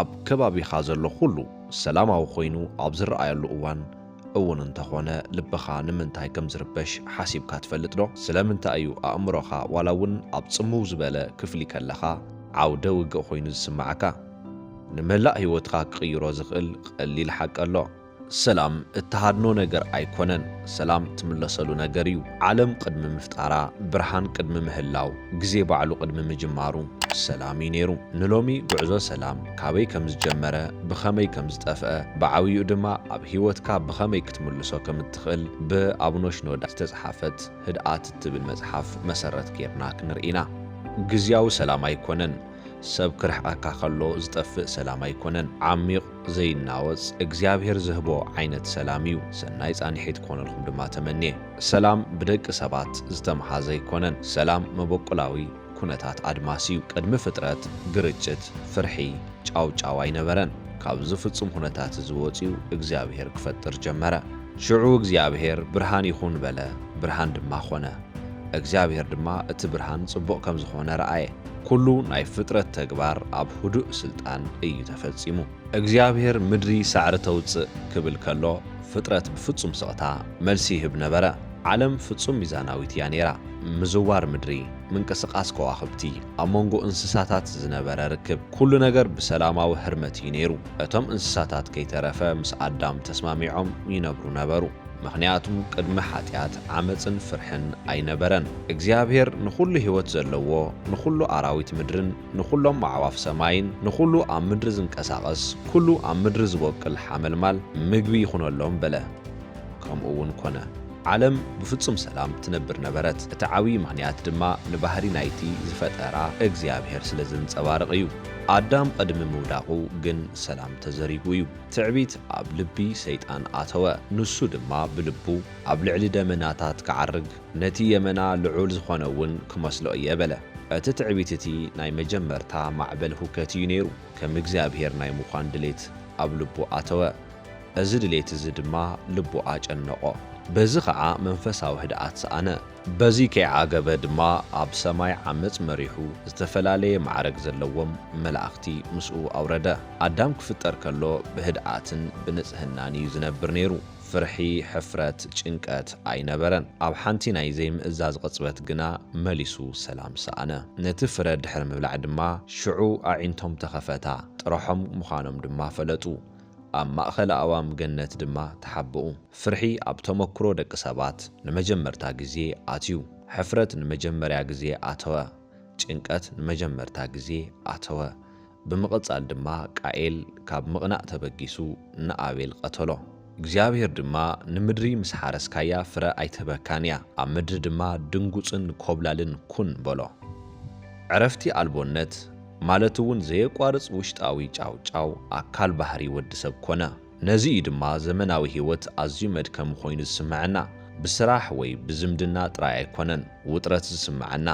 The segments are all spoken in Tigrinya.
ኣብ ከባቢኻ ዘሎ ኹሉ ሰላማዊ ኮይኑ ኣብ ዝረኣየሉ እዋን እውን እንተኾነ ልብኻ ንምንታይ ከም ዝርበሽ ሓሲብካ ትፈልጥ ዶ? ስለምንታይ እዩ ኣእምሮኻ ዋላ እውን ኣብ ጽምው ዝበለ ክፍሊ ከለኻ ዓውደ ውግእ ኮይኑ ዝስምዓካ? ንመላእ ህይወትካ ክቕይሮ ዝኽእል ቐሊል ሓቂ ኣሎ። ሰላም እትሃድኖ ነገር ኣይኮነን፣ ሰላም ትምለሰሉ ነገር እዩ። ዓለም ቕድሚ ምፍጣራ፣ ብርሃን ቕድሚ ምህላው፣ ግዜ ባዕሉ ቕድሚ ምጅማሩ ሰላም እዩ ነይሩ። ንሎሚ ጉዕዞ ሰላም ካበይ ከም ዝጀመረ፣ ብኸመይ ከም ዝጠፍኣ፣ ብዓብይኡ ድማ ኣብ ህይወትካ ብኸመይ ክትምልሶ ከም እትኽእል ብ ኣቡነ ሽኖዳ ዝተፅሓፈት ህድኣት እትብል መፅሓፍ መሰረት ገይርና ክንርኢ ኢና። ግዝያዊ ሰላም ኣይኮነን፣ ሰብ ክርሕቐካ ከሎ ዝጠፍእ ሰላም ኣይኮነን ዓሚቕ ዘይናወጽ እግዚኣብሔር ዝህቦ ዓይነት ሰላም እዩ ሰናይ ጻኒሒት ክኾነልኹም ድማ ተመንየ። ሰላም ብደቂ ሰባት ዝተምሃዘ ኣይኮነን ሰላም መበቁላዊ ኩነታት ኣድማስ እዩ ቅድሚ ፍጥረት ግርጭት ፍርሒ ጫውጫው ኣይነበረን ካብዚ ፍጹም ኩነታት እዚ ወጽዩ እግዚኣብሔር ክፈጥር ጀመረ ሽዑ እግዚኣብሔር ብርሃን ይኹን በለ ብርሃን ድማ ኮነ እግዚኣብሔር ድማ እቲ ብርሃን ጽቡቕ ከም ዝኾነ ረኣየ ኩሉ ናይ ፍጥረት ተግባር ኣብ ህዱእ ስልጣን እዩ ተፈጺሙ። እግዚኣብሔር ምድሪ ሳዕሪ ተውጽእ ክብል ከሎ ፍጥረት ብፍጹም ስቕታ መልሲ ይህብ ነበረ። ዓለም ፍጹም ሚዛናዊት እያ ነይራ። ምዝዋር ምድሪ፣ ምንቅስቓስ ከዋኽብቲ፣ ኣብ መንጎ እንስሳታት ዝነበረ ርክብ፣ ኩሉ ነገር ብሰላማዊ ህርመት እዩ ነይሩ። እቶም እንስሳታት ከይተረፈ ምስ ኣዳም ተስማሚዖም ይነብሩ ነበሩ። ምኽንያቱ ቅድሚ ሓጢኣት ዓመጽን ፍርሕን ኣይነበረን። እግዚኣብሔር ንኹሉ ሕይወት ዘለዎ፣ ንኹሉ ኣራዊት ምድርን ንኹሎም ኣዕዋፍ ሰማይን፣ ንኹሉ ኣብ ምድሪ ዝንቀሳቐስ ኩሉ ኣብ ምድሪ ዝቦቅል ሓመልማል ምግቢ ይኹነሎም በለ። ከምኡ'ውን ኮነ። ዓለም ብፍጹም ሰላም ትነብር ነበረት፣ እቲ ዓብዪ ምኽንያት ድማ ንባህሪ ናይቲ ዝፈጠራ እግዚኣብሔር ስለ ዘንጸባርቕ እዩ። ኣዳም ቕድሚ ምውዳቑ ግን ሰላም ተዘሪጉ እዩ። ትዕቢት ኣብ ልቢ ሰይጣን ኣተወ፣ ንሱ ድማ ብልቡ፣ ኣብ ልዕሊ ደመናታት ክዓርግ፣ ነቲ የመና ልዑል ዝዀነ እውን ክመስሎ እየ በለ። እቲ ትዕቢት እቲ ናይ መጀመርታ ማዕበል ሁከት እዩ ነይሩ፣ ከም እግዚኣብሄር ናይ ምዃን ድሌት ኣብ ልቡ ኣተወ፣ እዚ ድሌት እዚ ድማ ልቡ ኣጨነቖ፣ በዚ ኸኣ መንፈሳዊ ህድኣት ሰኣነ። በዚ ከይዓገበ ድማ ኣብ ሰማይ ዓመጽ መሪሑ ዝተፈላለየ ማዕረግ ዘለዎም መላእኽቲ ምስኡ ኣውረደ። ኣዳም ክፍጠር ከሎ ብህድኣትን ብንጽህናን ኢዩ ዝነብር ነይሩ። ፍርሒ፣ ሕፍረት፣ ጭንቀት ኣይነበረን። ኣብ ሓንቲ ናይ ዘይምእዛዝ ቅጽበት ግና መሊሱ ሰላም ሰኣነ። ነቲ ፍረ ድሕሪ ምብላዕ ድማ ሽዑ ኣዒንቶም ተኸፈታ፣ ጥረሖም ምዃኖም ድማ ፈለጡ። ኣብ ማእከል ኣእዋም ገነት ድማ ተሓብኡ። ፍርሒ ኣብ ተመክሮ ደቂ ሰባት ንመጀመርታ ግዜ ኣትዩ። ሕፍረት ንመጀመርያ ግዜ ኣተወ። ጭንቀት ንመጀመርታ ግዜ ኣተወ። ብምቕጻል ድማ ቃኤል ካብ ምቕናእ ተበጊሱ ንኣቤል ቐተሎ። እግዚኣብሄር ድማ ንምድሪ ምስ ሓረስካያ ፍረ ኣይትህበካን እያ፣ ኣብ ምድሪ ድማ ድንጉጽን ኰብላልን ኩን በሎ። ዕረፍቲ ኣልቦነት ማለት'ውን ዘየቋርጽ ውሽጣዊ ጫውጫው ኣካል ባህሪ ወዲ ሰብ ኰነ። ነዚ እዩ ድማ ዘመናዊ ህይወት ኣዝዩ መድከሚ ኮይኑ ዝስመዐና። ብስራሕ ወይ ብዝምድና ጥራይ ኣይኮነን ውጥረት ዝስመዐና።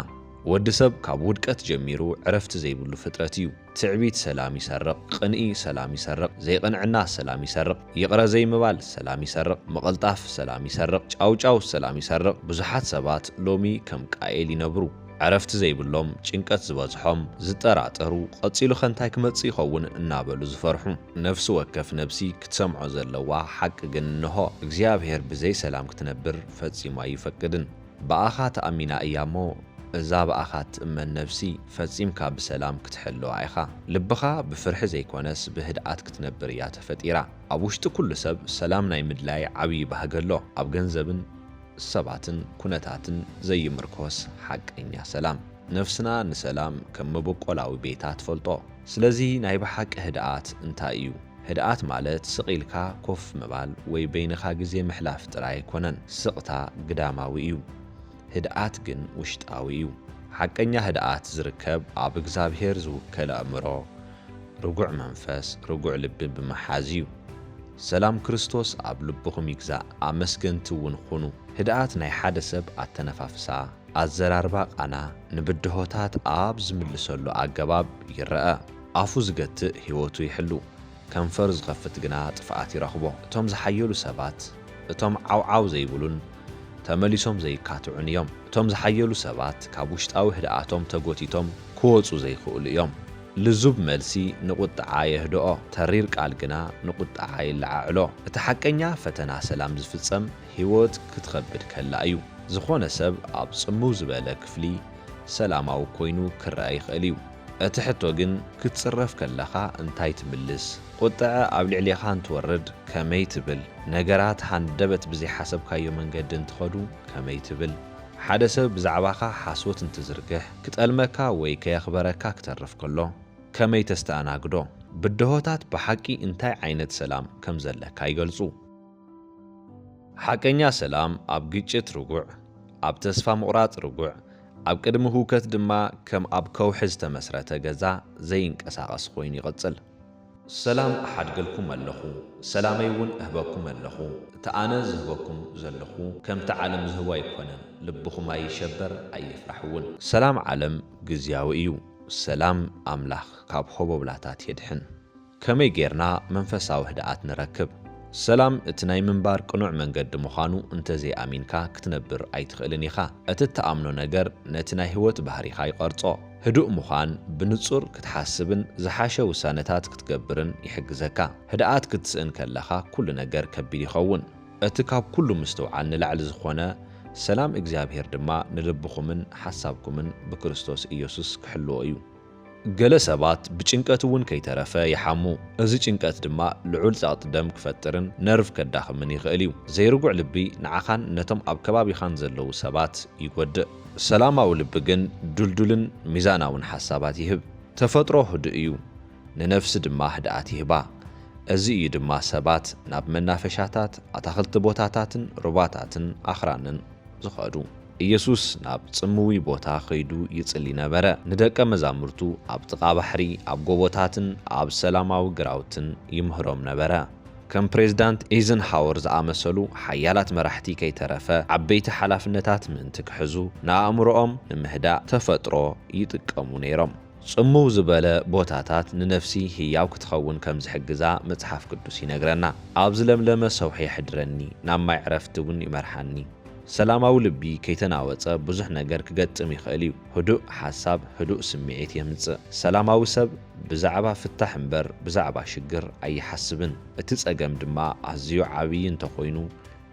ወዲ ሰብ ካብ ውድቀት ጀሚሩ ዕረፍቲ ዘይብሉ ፍጥረት እዩ። ትዕቢት ሰላም ይሰርቕ፣ ቕንኢ ሰላም ይሰርቕ፣ ዘይቕንዕና ሰላም ይሰርቕ፣ ይቕረ ዘይምባል ሰላም ይሰርቕ፣ ምቕልጣፍ ሰላም ይሰርቕ፣ ጫውጫው ሰላም ይሰርቕ። ብዙሓት ሰባት ሎሚ ከም ቃኤል ይነብሩ። ዕረፍቲ ዘይብሎም፣ ጭንቀት ዝበዝሖም፣ ዝጠራጠሩ፣ ቐጺሉኸ እንታይ ክመጽእ ይኸውን እናበሉ ዝፈርሑ። ነፍሲ ወከፍ ነብሲ ክትሰምዖ ዘለዋ ሓቂ ግን እንሆ፣ እግዚኣብሄር ብዘይ ሰላም ክትነብር ፈጺሙ ኣይፈቅድን። ብኣኻ ተኣሚና እያ እሞ፣ እዛ ብኣኻ እትእመን ነብሲ ፈጺምካ ብሰላም ክትሕልዋ ኢኻ። ልብኻ ብፍርሒ ዘይኮነስ ብህድኣት ክትነብር እያ ተፈጢራ። ኣብ ውሽጢ ኩሉ ሰብ ሰላም ናይ ምድላይ ዓብዪ ባህጊ ኣሎ። ኣብ ገንዘብን። ሰባትን ኩነታትን ዘይምርኮስ ሓቀኛ ሰላም። ነፍስና ንሰላም ከም መበቆላዊ ቤታ ትፈልጦ። ስለዚ ናይ ብሓቂ ህድኣት እንታይ እዩ? ህድኣት ማለት ስቕ ኢልካ ኮፍ ምባል ወይ በይንኻ ግዜ ምሕላፍ ጥራይ ኣይኮነን። ስቕታ ግዳማዊ እዩ። ህድኣት ግን ውሽጣዊ እዩ። ሓቀኛ ህድኣት ዝርከብ ኣብ እግዝኣብሄር ዝውከል ኣእምሮ፣ ርጉዕ መንፈስ፣ ርጉዕ ልቢ ብምሓዝ እዩ። ሰላም ክርስቶስ ኣብ ልብኹም ይግዛእ ኣመስገንቲ እውን ኹኑ። ህድኣት ናይ ሓደ ሰብ ኣተነፋፍሳ፣ ኣዘራርባ ቃና ንብድሆታት ኣብ ዝምልሰሉ ኣገባብ ይረኣ። ኣፉ ዝገትእ ህይወቱ ይሕሉ፣ ከንፈሩ ዝኸፍት ግና ጥፍኣት ይረኽቦ። እቶም ዝሓየሉ ሰባት እቶም ዓውዓው ዘይብሉን ተመሊሶም ዘይካትዑን እዮም። እቶም ዝሓየሉ ሰባት ካብ ውሽጣዊ ህድኣቶም ተጎቲቶም ክወጹ ዘይክእሉ እዮም። ልዙብ መልሲ ንቝጥዓ የህድኦ፣ ተሪር ቃል ግና ንቝጥዓ የለዓዕሎ። እቲ ሓቀኛ ፈተና ሰላም ዝፍጸም ህይወት ክትኸብድ ከላ እዩ። ዝዀነ ሰብ ኣብ ጽምው ዝበለ ክፍሊ ሰላማዊ ኰይኑ ክረኣ ይኽእል እዩ። እቲ ሕቶ ግን፣ ክትጽረፍ ከለኻ እንታይ ትምልስ? ቍጥዐ ኣብ ልዕሌኻ እንትወርድ ከመይ ትብል? ነገራት ሃንደበት ብዘይሓሰብካዮ መንገዲ እንትኸዱ ከመይ ትብል? ሓደ ሰብ ብዛዕባኻ ሓሶት እንትዝርግሕ ክጠልመካ ወይ ከየኽበረካ ክተርፍ ከሎ ከመይ ተስተኣናግዶ? ብድሆታት ብሓቂ እንታይ ዓይነት ሰላም ከም ዘለካ ይገልጹ። ሓቀኛ ሰላም ኣብ ግጭት ርጉዕ፣ ኣብ ተስፋ ምቑራጽ ርጉዕ፣ ኣብ ቅድሚ ህውከት ድማ ከም ኣብ ከውሒ ዝተመስረተ ገዛ ዘይንቀሳቐስ ኮይኑ ይቕጽል። ሰላም እሓድገልኩም ኣለኹ ሰላመይ ውን እህበኩም ኣለኹ እቲ ኣነ ዝህበኩም ዘለኹ ከምቲ ዓለም ዝህቦ ኣይኮነን ልብኹም ኣይሸበር ኣይፍራሕ ውን። ሰላም ዓለም ግዝያዊ እዩ ሰላም ኣምላኽ ካብ ሆቦብላታት የድሕን ከመይ ጌርና መንፈሳዊ ህድኣት ንረክብ ሰላም እቲ ናይ ምንባር ቅኑዕ መንገዲ ምዃኑ እንተዘይ ኣሚንካ ክትነብር ኣይትኽእልን ኢኻ እቲ እትኣምኖ ነገር ነቲ ናይ ህይወት ባህሪኻ ይቐርጾ ህዱእ ምዃን ብንጹር ክትሓስብን ዝሓሸ ውሳነታት ክትገብርን ይሕግዘካ። ህድኣት ክትስእን ከለኻ ኩሉ ነገር ከቢድ ይኸውን። እቲ ካብ ኩሉ ምስትውዓል ንላዕሊ ዝኾነ ሰላም እግዚኣብሔር ድማ ንልብኹምን ሓሳብኩምን ብክርስቶስ ኢየሱስ ክሕልዎ እዩ። ገለ ሰባት ብጭንቀት እውን ከይተረፈ ይሓሙ። እዚ ጭንቀት ድማ ልዑል ጸቕጢ ደም ክፈጥርን ነርቭ ከዳኽምን ይኽእል እዩ። ዘይርጉዕ ልቢ ንዓኻን ነቶም ኣብ ከባቢኻን ዘለዉ ሰባት ይጎድእ። ሰላማዊ ልቢ ግን ድልዱልን ሚዛናውን ሓሳባት ይህብ። ተፈጥሮ ህዱእ እዩ፣ ንነፍሲ ድማ ህድኣት ይህባ። እዚ እዩ ድማ ሰባት ናብ መናፈሻታት፣ ኣታኽልቲ ቦታታትን ሩባታትን ኣኽራንን ዝኸዱ። ኢየሱስ ናብ ጽምዊ ቦታ ኸይዱ ይጽሊ ነበረ፣ ንደቀ መዛሙርቱ ኣብ ጥቓ ባሕሪ፣ ኣብ ጎቦታትን ኣብ ሰላማዊ ግራውትን ይምህሮም ነበረ። ከም ፕሬዝዳንት ኤይዘንሃወር ዝኣመሰሉ ሓያላት መራሕቲ ከይተረፈ ዓበይቲ ሓላፍነታት ምእንቲ ክሕዙ ንኣእምሮኦም ንምህዳእ ተፈጥሮ ይጥቀሙ ነይሮም። ጽምው ዝበለ ቦታታት ንነፍሲ ህያው ክትኸውን ከም ዝሕግዛ መጽሓፍ ቅዱስ ይነግረና። ኣብ ዝለምለመ ሰውሒ የሕድረኒ፣ ናብ ማይ ዕረፍቲ እውን ይመርሓኒ። ሰላማዊ ልቢ ከይተናወጸ ብዙሕ ነገር ክገጥም ይኽእል እዩ። ህዱእ ሓሳብ ህዱእ ስምዒት የምጽእ። ሰላማዊ ሰብ ብዛዕባ ፍታሕ እምበር ብዛዕባ ሽግር ኣይሓስብን። እቲ ጸገም ድማ ኣዝዩ ዓብዪ እንተኾይኑ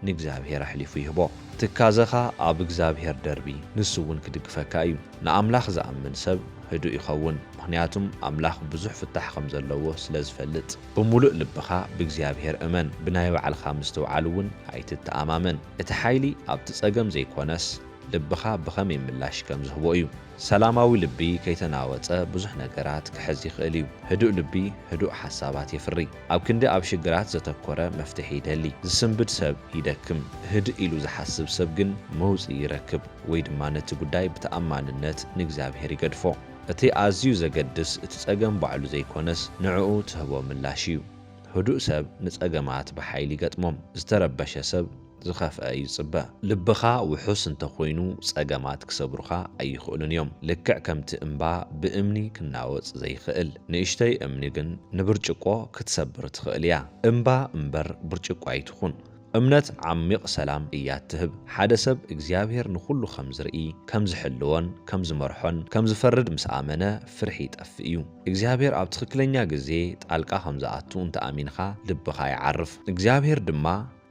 ንእግዚኣብሄር ኣሕሊፉ ይህቦ። ትካዘኻ ኣብ እግዚኣብሄር ደርቢ፣ ንሱ እውን ክድግፈካ እዩ። ንኣምላኽ ዝኣምን ሰብ ህዱእ ይኸውን፣ ምኽንያቱም ኣምላኽ ብዙሕ ፍታሕ ከም ዘለዎ ስለ ዝፈልጥ። ብምሉእ ልብኻ ብእግዚኣብሄር እመን፣ ብናይ ባዕልኻ ምስትውዓል እውን ኣይትተኣማመን። እቲ ሓይሊ ኣብቲ ጸገም ዘይኮነስ፣ ልብኻ ብኸመይ ምላሽ ከም ዝህቦ እዩ። ሰላማዊ ልቢ ከይተናወጸ ብዙሕ ነገራት ክሕዝ ይኽእል እዩ። ህዱእ ልቢ ህዱእ ሓሳባት የፍሪ። ኣብ ክንዲ ኣብ ሽግራት ዘተኮረ መፍትሒ ይደሊ ዝስንብድ ሰብ ይደክም። ህድእ ኢሉ ዝሓስብ ሰብ ግን መውጽኢ ይረክብ ወይ ድማ ነቲ ጉዳይ ብተኣማንነት ንእግዚኣብሄር ይገድፎ። እቲ ኣዝዩ ዘገድስ እቲ ጸገም ባዕሉ ዘይኮነስ ንዕኡ ትህቦ ምላሽ እዩ። ህዱእ ሰብ ንጸገማት ብሓይሊ ይገጥሞም። ዝተረበሸ ሰብ ዝኸፍኣ እዩ ዝጽበ። ልብኻ ውሑስ እንተ ኾይኑ ጸገማት ክሰብሩኻ ኣይኽእሉን እዮም። ልክዕ ከምቲ እምባ ብእምኒ ክናወጽ ዘይኽእል፣ ንእሽቶይ እምኒ ግን ንብርጭቆ ክትሰብር ትኽእል እያ። እምባ እምበር ብርጭቆ ኣይትኹን። እምነት ዓሚቕ ሰላም እያ እትህብ። ሓደ ሰብ እግዚኣብሄር ንኹሉ ከም ዝርኢ፣ ከም ዝሕልዎን ከም ዝመርሖን ከም ዝፈርድ ምስ ኣመነ ፍርሒ ይጠፍእ እዩ። እግዚኣብሄር ኣብ ትኽክለኛ ግዜ ጣልቃ ከም ዝኣቱ እንተ ኣሚንካ ልብኻ ይዓርፍ። እግዚኣብሄር ድማ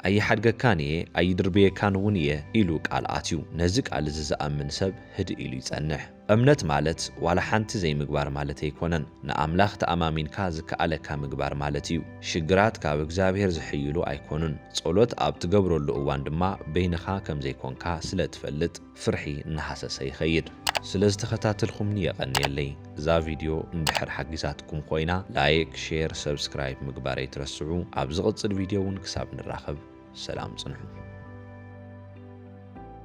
ኣይሓድገካን እየ፣ ኣይድርብየካን እውን እየ ኢሉ ቃል ኣትዩ። ነዚ ቃል እዚ ዝኣምን ሰብ ህድእ ኢሉ ይጸንሕ። እምነት ማለት ዋላ ሓንቲ ዘይምግባር ማለት ኣይኮነን። ንኣምላኽ ተኣማሚንካ ዝከኣለካ ምግባር ማለት እዩ። ሽግራት ካብ እግዚኣብሔር ዝሕይሉ ኣይኮኑን። ጸሎት ኣብ ትገብረሉ እዋን ድማ በይንኻ ከም ዘይኮንካ ስለ ትፈልጥ። ፍርሒ እናሃሰሰ ይኸይድ። ስለ ዝተኸታተልኩምኒ የቐንየለይ። እዛ ቪድዮ እንድሕር ሓጊዛትኩም ኾይና ላይክ፣ ሼር፣ ሰብስክራይብ ምግባር ኣይትረስዑ። ኣብ ዝቕፅል ቪድዮ እውን ክሳብ ንራኸብ ሰላም ፅንሑ።